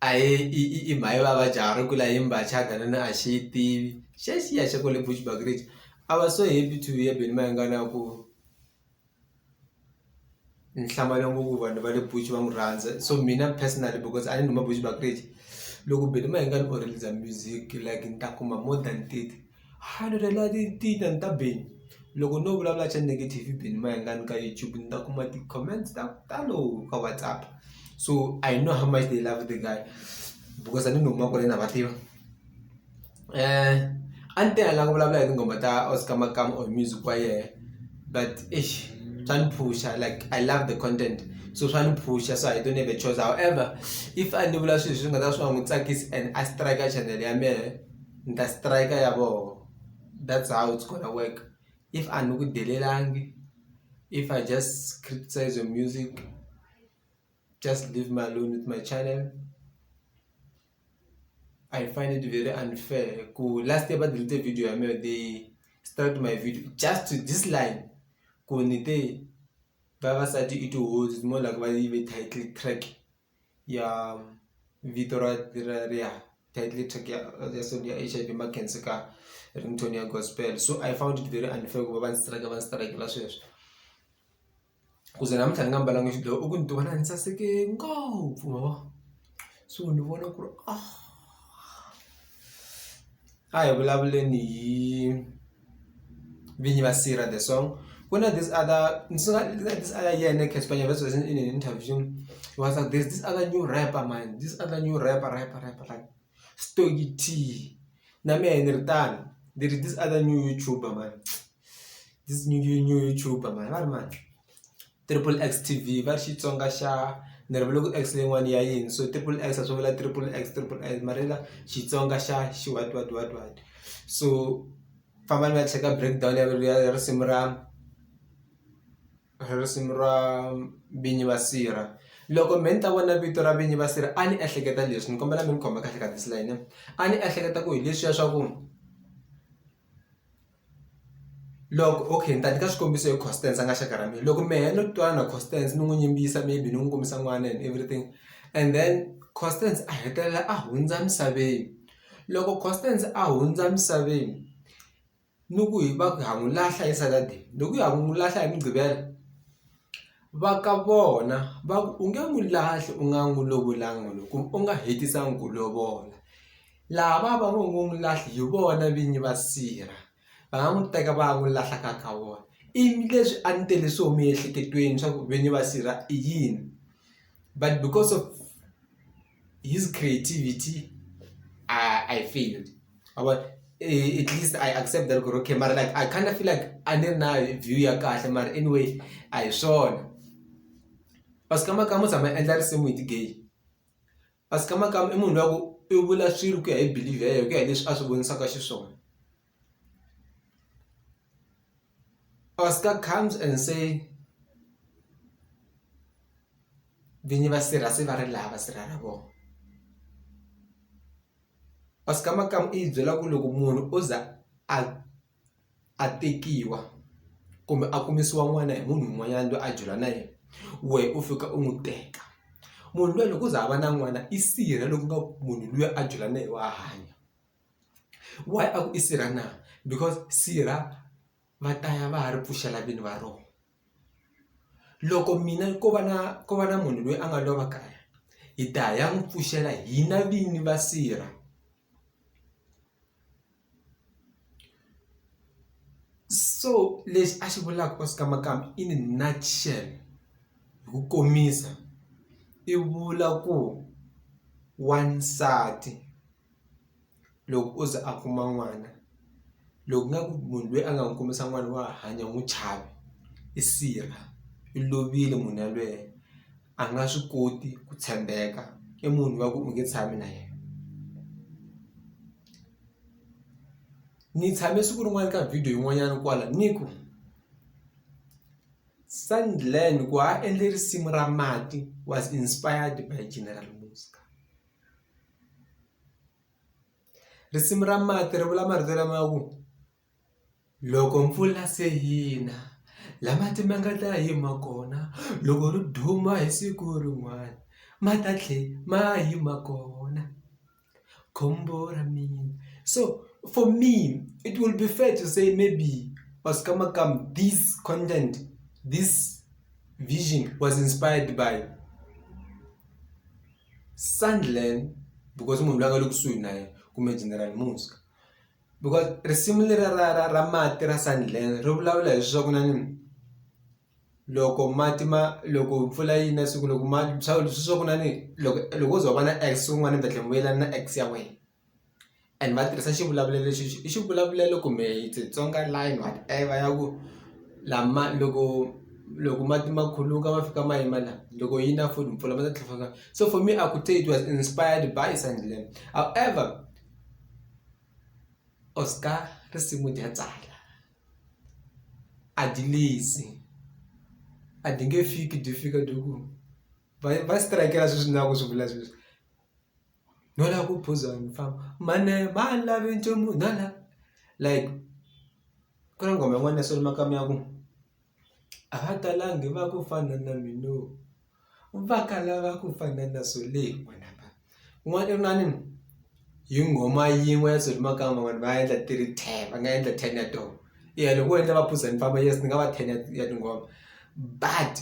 a hi i i i mhani va va jahha ri kula hi mbhaca hakunene a xi yi tivi xa xiya xa kwale Bushbuckridge a va so happy to hear Benny Mayengani a ku ni hlamala ngopfu vanhu va le Bush va n'wi rhandza so mina personally because a ni huma Bushbuckridge loko Benny Mayengani or Ridza music like ni ta kuma more than thirty. Hano re la ti ti ta ni ta beni loko no vulavula xa negative beni ma yingani ka YouTube ni ta kuma ti comments ta ku talo ka WhatsApp so I know how much they love the guy because a ni huma kwale na va tiva a ni te a ni la ku vulavula hi tinghoma ta Oscar Makamu or music wa yehe but eish swa ni phusha like I love the content so swa ni phusha so I don't have a choice however if a ni vula swilo leswi swi nga ta swi nga n'wi tsakisi and a strike chanel ya mehe. ni ta strike ya voho that's how it's gonna work if a ni ku delivery if I just criticize your music just leave me alone with my channel I find it very unfair ku last year va delete video ya mina they start my video just to this line ku ni te vavasati i tihozi more like va yi ve title track. ya vito ra ra riha title track ya ya so ya H_I_V ma khensa ka ringtone ya gospel so I found it very unfair ku va va ni strike va ni strike-ela sweswo ku ze namuntlha ni nga mbalanga xidyoho i ku ni ti vona ni saseke ngopfu ma vo so ni vona ku ri a hi vulavuleni hi. Vinyi va Sira the song ku na this other ni swi nga this other year na Cassper Nyovest was in an interview he was like there's this other new rapper mhani this other new rapper rapper rapper like Stogie T na mehe ni ri tano ni ri this other new YouTuber mhani this new new YouTuber mhani va ri mani. Triple X T_V va ri Xitsonga xa ni ri vula ku X leyin'wani ya yini so triple X a swi vula triple X triple X mara ya Xitsonga xa xi what what what what so famba ni ya cheka break down ya ya ya risimu ra ra risimu ra Vinyi va sirha loko me ni ta vona vito ra Vinyi va sirha a ni ehleketa leswi ni kombela mi ni khoma kahle ka this line a ni ehleketa ku hi leswiya swa ku. loko okay ni ta nyika xikombiso hi Constance a nga xaka ra mina loko mehe no twana na Constance ni n'wi yimbisa maybe ni n'wi kombisa n'wana and everything and then Constance a hetelela a hundza misaveni loko Constance a hundza misaveni ni ku hi va ku ha n'wi lahla hi Saturday loko hi ya ku n'wi lahla hi Mugqivela va ka vona va ku u nge n'wi lahli u nga n'wi lovolanga kumbe u nga hetisanga ku lovola. Lava va ngo ngo n'wi lahli hi vona vinyi va sirha va nga n'wi teka va ya n'wi lahla ka ka vona i leswi a ni tele swo miehleketweni swa ku vinyi va sirha i yini but because of his creativity I I failed ma vona at least I accept that ku ri okay mara like I kind of feel like a ni ri na view ya kahle mara anyway a hi swona va swi kama kama u tshama a endla risimu hi ti-gay. Kasi ka makamba i munhu luya ku i vula swilo ku ya hi believe ya yena ku ya hi leswi a swi vonisaka xiswona Oscar comes and say vinyi va sirha se va ri laha va sirha ra vona Oscar makamu i hi byela ku loko munhu o za a. a tekiwa kumbe a kumisiwa n'wana hi munhu un'wanyana loyi a jola na yena wehe u fika u n'wi teka munhu luya loko u za a va na n'wana i sirha loko nga munhu luya a jola na ye wa hanya why a ku i sirha na because sirha va ta ya va ya ri pfuxela vini va rona. loko mina ko va na ko va na munhu loyi a nga lova kaya hi ta ya n'wi pfuxela hina vini va sirha so lexi a xi vulaka ka Skamakamu in a nutshell hi ku komisa i vula ku wansati. loko o ze a kuma n'wana loko nga ku munhu loyi a nga n'wi kumisa n'wana wa ha hanya n'wi chava i sila i lovile munhu yalweyo a nga swi koti ku tshembeka i munhu wa ku u nge tshami na yena ni tshame siku rin'wana ka video yin'wanyana kwala ni ku Sandland ku a endle risimu ra mati was inspired by General Muzka. Risimu ra mati ri vula marito lama ku loko mpfula se yi na la mati ma nga ta yima kona loko ri duma hi siku rin'wana ma ta tlhe ma yima kona khombo ra mina so for me it will be fair to say maybe or scummagum this content this vision was inspired by. Sandland because i munhu loyi a nga le kusuhi na yena kumbe General Muzka because risimu leriya ra ra ra mati ra Sandland ri vulavula hi swa ku na ni loko mati ma loko mpfula yi na siku loko ma swa ku na ni loko loko wo ze wa va na ex wun'wana ni ta tlhela ni vuyelana na ex ya wena. and va tirhisa xivulavulelo lexi xi i xivulavulelo kumbe it's a Tsonga line whatever ya ku lama loko loko mati ma khuluka ma fika ma yima la loko yi na futhi mpfula ma ta tlhela ma so for me I could say it was inspired by Sandilandzini however Oscar risimu dya tsala a dyi lunghizi a dyi nge fiki dyi fika dyi ku va va strike-la sweswi ni lava ku swi vula sweswi. no la ku phuza ni famba mhani va lavi nchumu no la like ku na nghoma yin'wana ya Solly Makamu ya ku a va talangi va ku fana na mina va kala va ku fana na Solly yin'wana inani hi nghoma yin'we ya Solly Makamu vanhu va endla ti ri ten va nga endla ten ya tona i ya loko wo endla va phuza ni famba yes ni nga va ten ya tinghoma but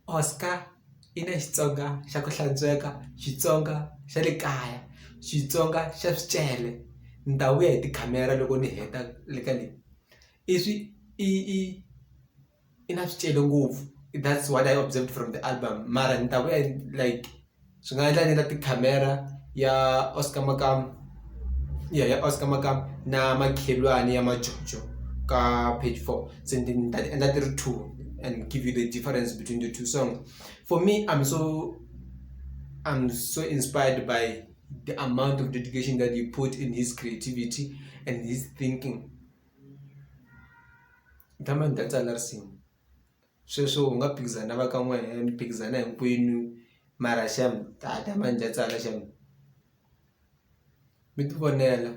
Oscar. yi na Xitsonga xa ku hlantsweka Xitsonga xa le kaya Xitsonga xa swicele ni ta vuya hi tikhamera loko ni heta le ka leyi i swi i i i na swicele ngopfu i that's what I observed from the album mara ni ta vuya like swi nga endla ni na tikhamera ya Oscar Makamu ya Oscar Makamu na makhelwani ya majojo ka page four. se ni ni ta ti endla ti ri two and give you the difference between the two songs for me i'm so i'm so inspired by the amount of dedication that you put in his creativity and his thinking ni tshama ni dansa na risimu sweswo u nga phikizana na va ka n'we ni phikizana hinkwenu mara xem ta ta ma ni ta tsala xem mi ti vonela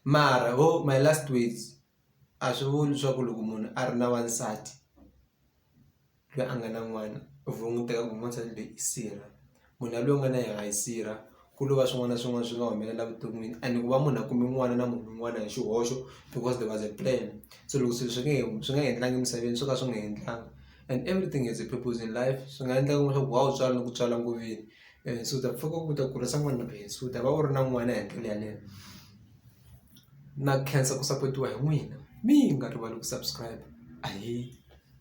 mara ho my last words. a swi vuli swa ku loko munhu a ri na wansati loyi a nga na n'wana u languteka ku n'wansati loyi i sirha munhu yaloye u nga na yena i sirha ku lova swin'wana na swin'wana swi nga humelela evuton'wini and ku va munhu a kume n'wana na munhu un'wana hi xihoxo because there was a plan se loko swilo swi nge he swi nga endlangi emisaveni swo ka swi nga endlanga and everything has a purpose in life swi nga endleka ku va u tswala loko u tswala ku veni and so u ta pfuka u ta kurisa n'wana loyi so u ta va u ri na n'wana hi ndlela yaleyo. na khensa ku sapotiwa hi n'wina mi nga rivali ku subscribe ahee.